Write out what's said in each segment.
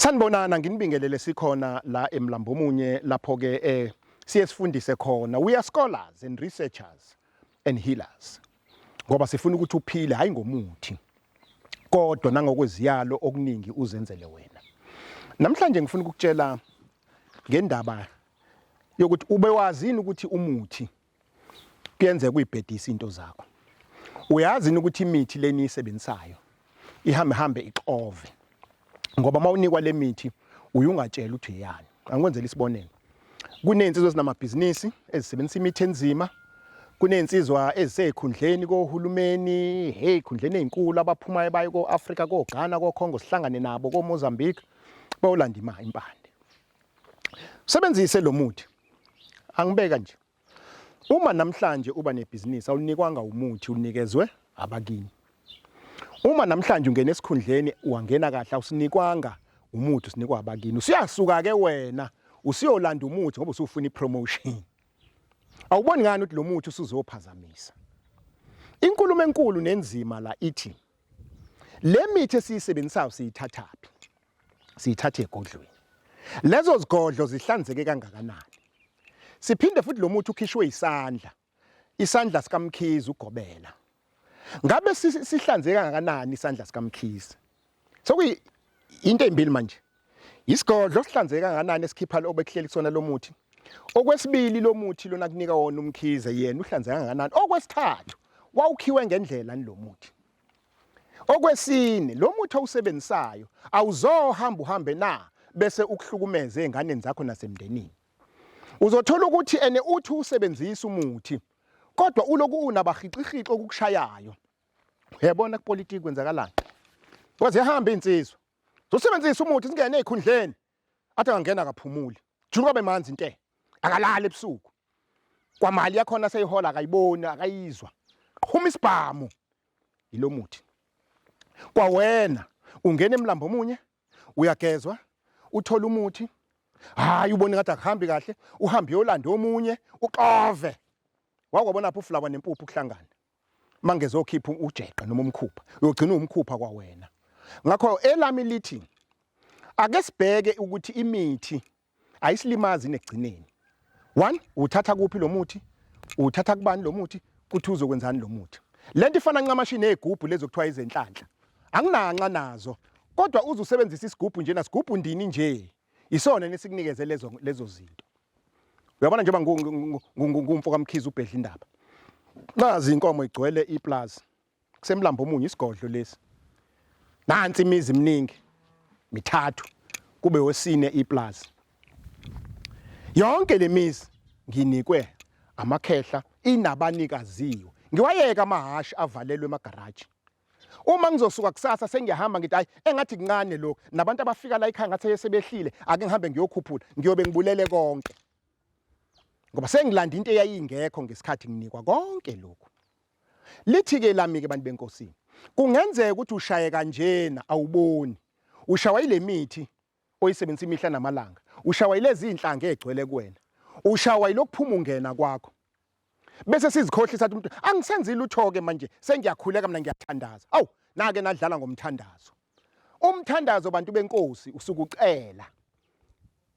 Sanibonana nginibingelele sikhona la emlambo omunye lapho ke eh siye sifundise khona we are scholars and researchers and healers ngoba sifuna ukuthi uphile hayi ngomuthi kodwa nangokweziyalo okuningi uzenzele wena namhlanje ngifuna ukukutshela ngendaba yokuthi ube wazini ukuthi umuthi kuyenzeka uyibhedisa into zakho uyazi yini ukuthi imithi leni isebenzisayo ihambe hambe ixove ngoba uma unikwa le mithi uyungatshela ukuthi yani angikwenzela isibonelo kuney'nsizwa ezinamabhizinisi ezisebenzisa imithi enzima kuney'nsizwa eziseyikhundleni kohulumeni hey khundleni ey'nkulu abaphumayo bayo ko-afrika ko-ghana ko-congo sihlangane nabo ko-mozambique bayolanda imali impande Sebenzise lo muthi. Angibeka nje. Uma namhlanje uba nebhizinisi awunikwanga umuthi unikezwe abakini. Uma namhlanje ungena esikhundleni wangena kahle awusinikwanga umuthi usinikwa abakini. Usiyasuka ke wena usiyolanda umuthi ngoba usufuna ipromotion. Awuboni ngani ukuthi lo muthi usuzophazamisa. Inkulumo enkulu nenzima la ithi le mithi esiyisebenzisayo siyithathaphi. siyithathe egodlweni lezo zigodlo zihlanzeke kangakanani siphinde futhi lo muthi ukhishwe isandla isandla sikamkhizi ugobela ngabe sihlanzeke kangakanani isandla sikamkhizi sokuyi into ezimbili manje isigodlo sihlanzeke kangakanani esikhipha obekuhleli kusona lo muthi okwesibili lo muthi lona kunika wona umkhize yena uhlanzeke kangakanani okwesithathu wawukhiwe ngendlela lo muthi Okwesine, lo muthi owusebenzisayo awuzohamba uhambe na bese ukuhlukumeza ezinganeni zakho nasemndenini. Uzothola ukuthi ene uthi usebenzisa umuthi kodwa uloku unabahixixixi okukushayayo. Uyabona kupolitiki kwenzakalani? Kwaze hamba insizwa. Zosebenzisa umuthi singene ezikhundleni. athi angangena akaphumuli julu kwabe manzi inte akalali ebusuku kwamali yakhona seyihola akayiboni akayizwa qhuma isibhamu yilomuthi kwawena ungena emlambo omunye uyagezwa uthola umuthi hayi ubone ngathi akuhambi kahle uhambe yolanda omunye uxove wakwabona pho ufulawa nempuphu kuhlangana mangeze okhipha ujeqe noma umkhupha uyogcina umkhupha kwawena ngakho elami lithi ake sibheke ukuthi imithi ayisilimazi negcineni one uthatha kuphi lo muthi uthatha kubani lo muthi kuthi uzokwenzani lo muthi le nto ifana ncamashi nezigubhu lezo kuthiwa izenhlanhla anginanxa nazo kodwa uze usebenzise isigubhu njena sigubhu ndini nje Isona nesikunikeze lezo lezo zinto. Uyabona njengoba ngumfo kaMkhize ubhedla indaba. Nazi inkomo igcwele iplaza. Kusemlambo omunye isigodlo lesi. Nansi imizi eminingi mithathu kube wesine iplaza. Yonke lemizi nginikwe amakhehla inabanikaziyo. Ngiwayeka amahhashi avalelwe emagaraji Uma ngizosuka kusasa sengiyahamba ngithi hayi engathi kuncane lokhu nabantu abafika la ekhaya ngathi sebehlile ake ngihambe ngiyokhuphula ngiyobe ngibulele konke ngoba sengilanda into eyayingekho ngesikhathi nginikwa konke lokhu lithi-ke lami-ke bantu benkosini kungenzeka ukuthi ushaye kanjena awuboni ushawa ile mithi oyisebenzisa imihla namalanga ushawa yilezi inhlanga egcwele kuwena ushawa yilokuphuma ungena kwakho bese sizikhohlisa umuntu angisenzi lutho ke manje sengiyakhuleka mina ngiyathandaza awu nake nadlala ngomthandazo umthandazo bantu benkosi usukucela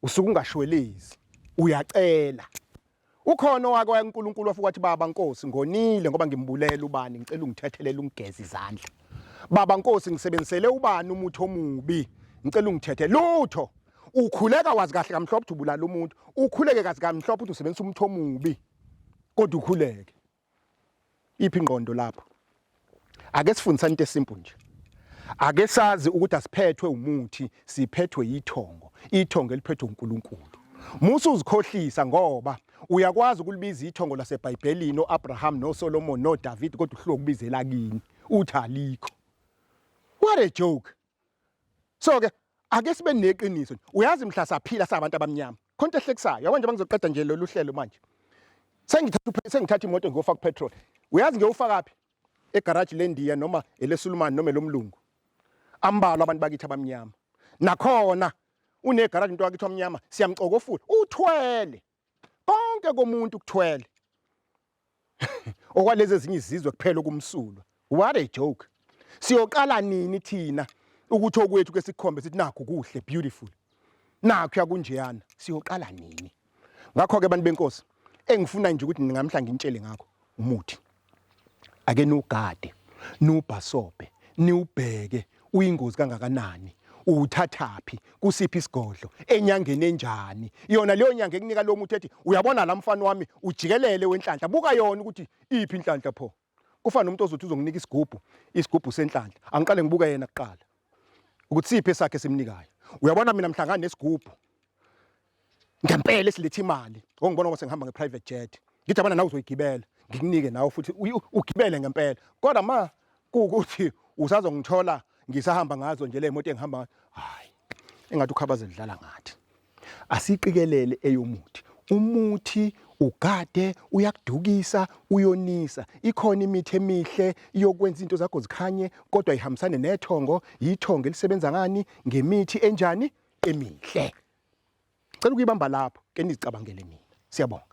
usuke ungashwelezi uyacela Ukhona owake waya kuNkulunkulu wafika wathi baba Nkosi ngonile ngoba ngimbulela ubani ngicela ungithethelele ungigeze izandla. Baba Nkosi ngisebenzisele ubani umuthi omubi ngicela ungithethe lutho. Ukhuleka wazi kahle kamhlophe ukuthi ubulala umuntu. Ukhuleke kazi kamhlophe ukuthi usebenzisa umuthi omubi. Kodwa ukhuleke. iphi ingqondo lapho ake sifundisane into esimple nje ake sazi ukuthi asiphethwe umuthi siphethwe ithongo ithongo eliphethwe uNkulunkulu musa uzikhohlisa ngoba uyakwazi ukulibiza ithongo laseBhayibhelini oAbraham noSolomon noDavid kodwa uhluke ukubizela kini uthi alikho what a joke so ke ake sibe neqiniso uyazi mhla saphila sabantu abamnyama khonto ehlekisayo yabo nje bangizoqeda nje lolu hlelo manje sengithatha sengithatha imoto ngiyofaka petrol uyazi ngiyofaka phi egarage lendiya noma elesulumani noma elomlungu ambalwa abantu bakithi abamnyama nakhona unegarage into yakithi omnyama siyamcokofula uthwele konke komuntu kuthwele okwalezi ezinye izizwe kuphela okumsulwa what a joke siyoqala nini thina ukuthi okwethu ke sikhombe sithi nakho kuhle beautiful nakho yakunjeyana siyoqala nini ngakho ke abantu benkosi engifuna nje ukuthi ningamhla ngintshele ngakho umuthi Ake nugade, nubhasobhe, niwubheke uyingozi kangakanani, uwuthathaphi, kusiphi isigodlo, enyangeni enjani. Yona leyo nyanga ekunika lo muthi ethi uyabona la mfana wami ujikelele wenhlanhla, buka yona ukuthi iphi inhlanhla pho. Kufana nomuntu ozothi uzonginika isigubhu, isigubhu senhlanhla. Angiqale ngibuke yena kuqala ukuthi siphi esakhe esimnikayo. Uyabona mina mhlangane nesigubhu ngempela esiletha imali ngongibona ngoba sengihamba nge-private jet ngithi abana nawe uzoyigibela ngikunike nawe futhi uyi- ugibele ngempela kodwa ma kuwukuthi usazongithola ngisahamba ngazo nje le moto engihamba ngayo hhayi engathi ukhabaze lidlala ngathi asiqikelele eyomuthi umuthi ugade uyakudukisa uyonisa ikhona imithi emihle yokwenza izinto zakho zikhanye kodwa ihambisane nethongo yithongo elisebenza ngani ngemithi enjani emihle Cela ukuyibamba lapho ke nizicabangele mina. Siyabonga.